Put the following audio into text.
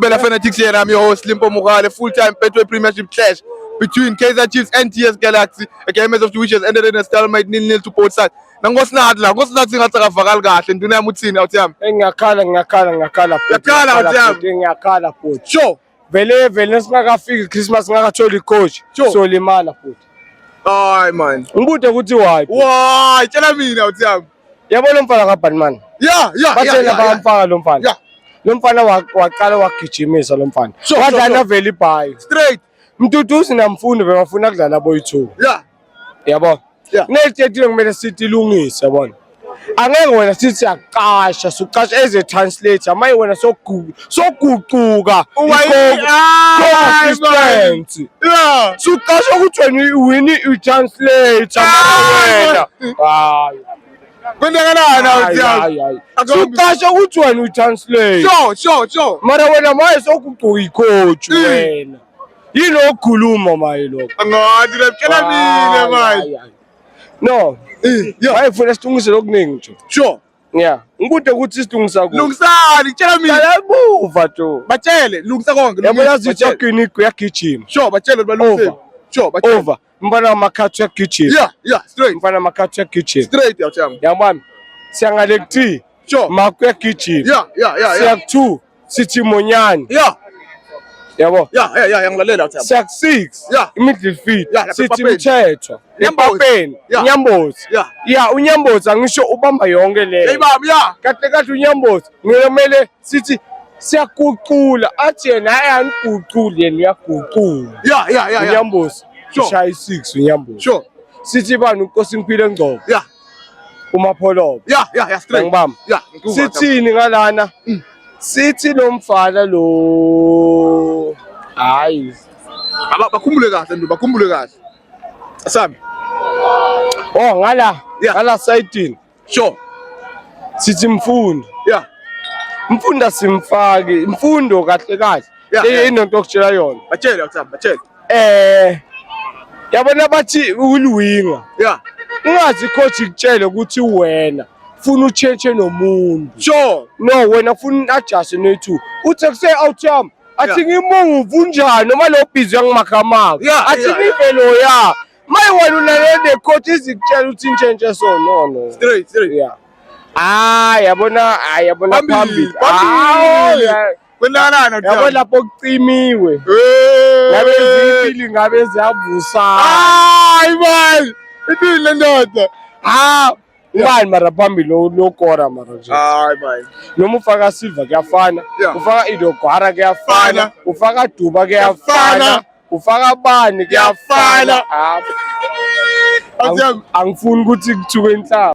Bela Fanatics here, I'm your host Limpo Mugale, full-time Betway Premiership clash between Kaizer Chiefs and TS Galaxy. A game as of which has ended in a stalemate nil-nil to both sides. Na ngosinathi la, ngosinathi ngathi akavakali kahle, nduna yami uthini awuthi yami? Ngiyakhala, ngiyakhala, ngiyakhala. Uyakhala, awuthi yami? Ngiyakhala futhi. Sure. vele vele nesingakafiki Christmas ngakatholi coach Sure. solimala futhi Hayi man. ngibude ukuthi why Why? Tshela mina uthi yami. yabo lo mfana kabani mani Yeah, yeah, bathena yeah, yeah, yeah. bayamfaka lo mfana Yeah. lo mfana wa- waqala wagijimisa lo mfana Sure, sure, wadlala sure. vele ibhayi Straight. mduduzi namfundi bebafuna kudlala boyi-two Yeah. yabo Yeah. kunezithethiwe kumele sithi ilungise yabona angeke wena sithi siyaqasha suqasha eze translate amaye wena sogu- soguquka consistency Yeah. suqasha ukuthi wena wini utranslate amaye wena hayi Kwenzakalani hayi, awuthi hayi, hayi. Akambi- suqasha ukuthi wena utranslate Sure, sure, sure. mara wena maye soguquka ikhoju Yeah. wena yini okukhuluma maye lokho angathi laptshela mina manje no wayefuna silungise lokuningi nje sure yeah ngikude ukuthi silungisa ku lungisani tshela mina labuva to batshele lungisa konke yabo yazi ukuthi yagini kuyagijima sure batshele balungise sure batshele Mbona makatwe kitchen. Yeah, yeah, straight. Mbona makatwe kitchen. Straight ya chama. Ya mwami. Siangale kti. Sure. Makwe kitchen. Yeah, yeah, yeah. Siak two. Siti monyani. Yeah. Yabo. Yeah, yeah, yeah, yangilalela chama. Siak six. Yeah. Middle feet. Yeah, Siti mthetho. Nyambopeni. Yeah. Nyambozi. Yeah. Yeah, unyambozi angisho ubamba yonke le. Hey baba, yeah. Kahle kahle unyambozi. Ngiyomele sithi siyaguqula athi yena hayi aniguquli yena uyaguqula ya ya ya ya unyambosi Sure. ushaya i-six unyambosi sure sithi bani unkosi impilo engcobo ya umapholobo ya ya ya straight Ngibamba. ya ngikuva, sithini ngalana Mm. sithi lo mfana lo hayi Aba- bakhumbule kahle nduba bakhumbule kahle sami oh ngala Yeah. ngala sayidini Sure. Sithi mfundo. Yeah. Mfunda simfaki, imfundo kahle kahle. Yeah, yeah. Inonto okutshela yona. Batshele ukusaba, batshele. Eh yabona bathi uliwinga. Yeah. Ungazi coach ikutshele ukuthi wena funa utshentshe nomuntu. Sure. No wena funa adjust no two. Uthi kuse out yam. Athi ngimuvu njani noma lo busy angimakhamaka. Yeah, Athi yeah, yeah. ngivelo ya. My one una no dey coach is ikutshela ukuthi intshentshe so no no. Straight straight. Yeah. Ah yabona ah yabona phambili. Phambili. Ah, Kwenzakalana kuthina. Yabona lapho kucimiwe. Eh. Ngabe zipili ngabe ziyavusa. Hayi man. Ipili lendoda. Ah ubani mara phambili lokora mara nje hayi manje noma ufaka silver kuyafana ufaka idogwara kuyafana ufaka duba kuyafana ufaka bani kuyafana angifuni ukuthi kuthiwe inhlaba